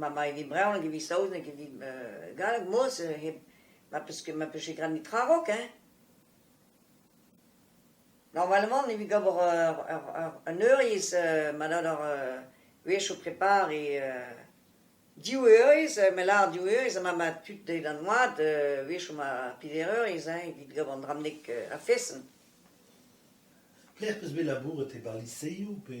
ma ma evit bremañ evit saozneg evit galleg mos hep ma peus ket ma peus ket gant tra raok hein. Normalement evit ober un eurvezh ma dad ur wech o prepare div eurvezh ma lâr div eurvezh ma ma tud deuet an oad wech o ma pevar eurvezh hein evit gant an dramnek a-feson. Pelec'h 'peus bet labouret e bar liseoù pe?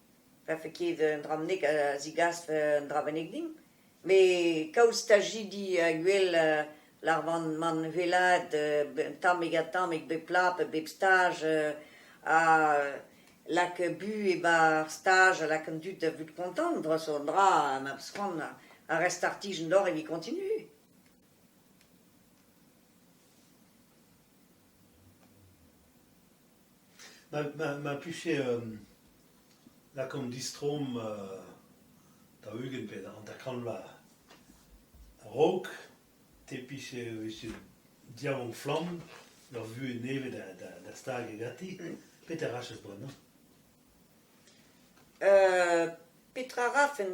Vefe ket un dra bennak a zigasfe un dra bennak dimp. Met kaout stajidi a-uhel a ravan mont wellaat tammig-ha-tammig bep pla pe bep staj ha lakaat bu e-barzh staj ha lakaat an dud da vout kontant dre zo un dra ma peus c'hoant ha re startijenn deoc'h evit koñtinui. Ma plije lakaomp distroomp daou-ugent pe hanter-kant vloaz a-raok. Te 'pije e vije diaouank-flamm ur vuhez nevez da stagiñ ganti. Petra rachas bremañ? Petra 'rafen ?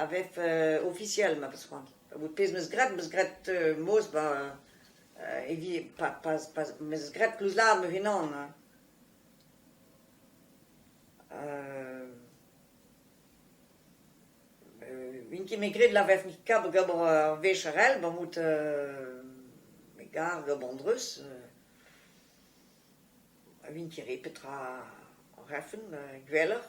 a vev ofisiel ma peus c'hoant. Pezh 'meus graet, 'meus graet mozh 'ba evit pa pa pa 'meus graet klouzlaat ma unan. N'int ket ket graet la vevn kab gant ar vecherel, ba out me gar gant an dreuz. N'int ket re petra rec'hen gwelloc'h.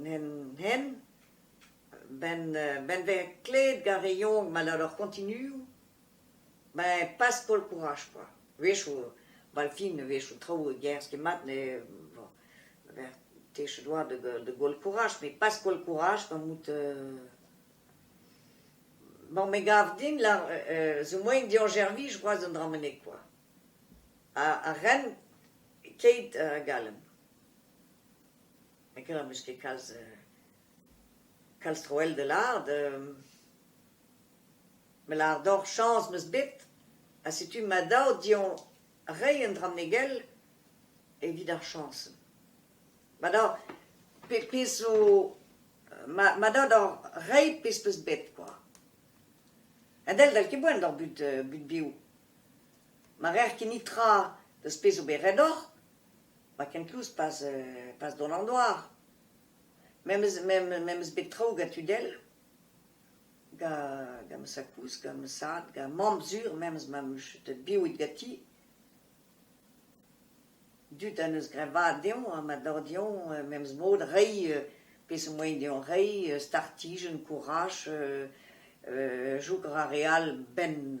N'hen, ben ben vez klevet gant re yaouank maleur ar continuoù, ben pas koll kouraj kwa, a-wechoù bal fin a-wechoù traoù a gerzh ket mat ne bon vez techet oa da goll kouraj met pas koll kouraj gant bout bon me gav din zo moaien deoc'h servij c'hoazh an dra-mañ kwa, ha ren keit a galon. n'eo ket am eus ket kalz kalz troell da lâret, me lâr deoc'h chañs 'meus bet ha setu ma daou dioñ reiñ un dra bennak evit ar chañs. Ma daou, pezh zo, ma daou deoc'h reiñ pezh 'peus bet kwa. Ha dell dall ket boan doc'h bout bev. Ma rec'h ket-ni tra deus pezh zo bet ret deoc'h. Ma kenkoulz pas pas dont an doar, memes memes bet traoù gant tud all, gant ma sakouz, gant ma sad, gant mamm sur memes ma 'm eus chetet biwit ganti. Dud a 'neus greñvaat deomp ha ma dor deomp memes mod reiñ peseurt moaien deomp reiñ, startijenn, kouraj, chouk a ra re all 'benn